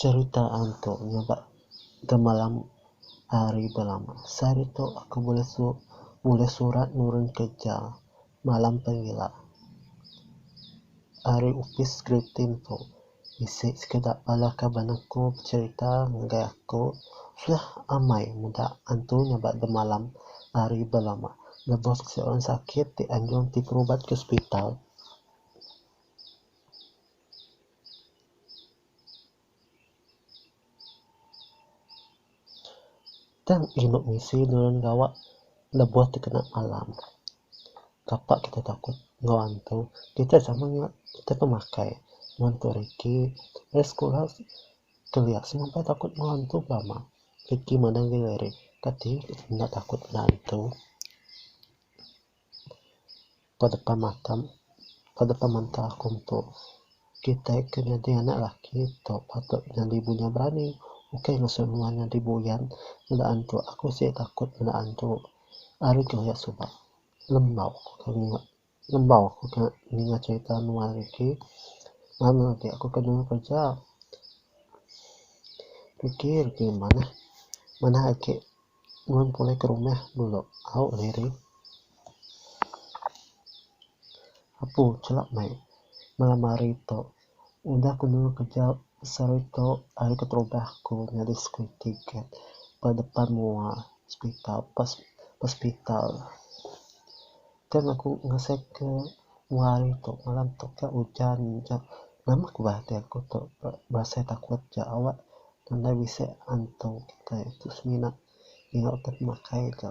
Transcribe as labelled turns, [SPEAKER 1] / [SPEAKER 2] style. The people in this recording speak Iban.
[SPEAKER 1] Cerita antu nyabak gemalam ari belama. Sehari tu aku bulih su bulih surat nurun kerja malam pengila ari opis Gritin tu bisi sekeda bala kaban aku becerita ngagai aku suah amai meda antu nyabak gemalam ari belama lebuh siti orang sakit ti anjung ti berubat ke hospital. Tang inu bisi nulung gawa lebuh tekena alam. Kapa kita takut enggau hantu? Kita sama nya kita pemakai wang tu hari ti meh sekula kelia semua meh takut enggau hantu pula mah. Reti madang diri ari kati enda takut enggau hantu. Ba depan mata ba depan menta aku metu kitai ke nyadi anak laki tu patut nyadi bunya berani ukai ngesu nuan nyadi buyan meda antu aku sik takut meda antu ari ke hoyak suba lembau aku ke ninga lembau aku ke ninga cerita nuan Ricky ngam agi aku ke nyuruh kerja Ricky Ricky manah manah agi. Nuan pulai ke rumah dulu. Au Larry. Apu chela meh malam hari tu. Udah ku nemu keja besar iko ari keterubah ku nyadi security guard ba depan mua hospital. Pas hospital. Tang aku ngasai ke dua hari tu malam tu ke ujan aja nama ku bah ati aku tu berasai takut ja awak nadai bisi antu kitai tu semina nyau ti pemakai ja.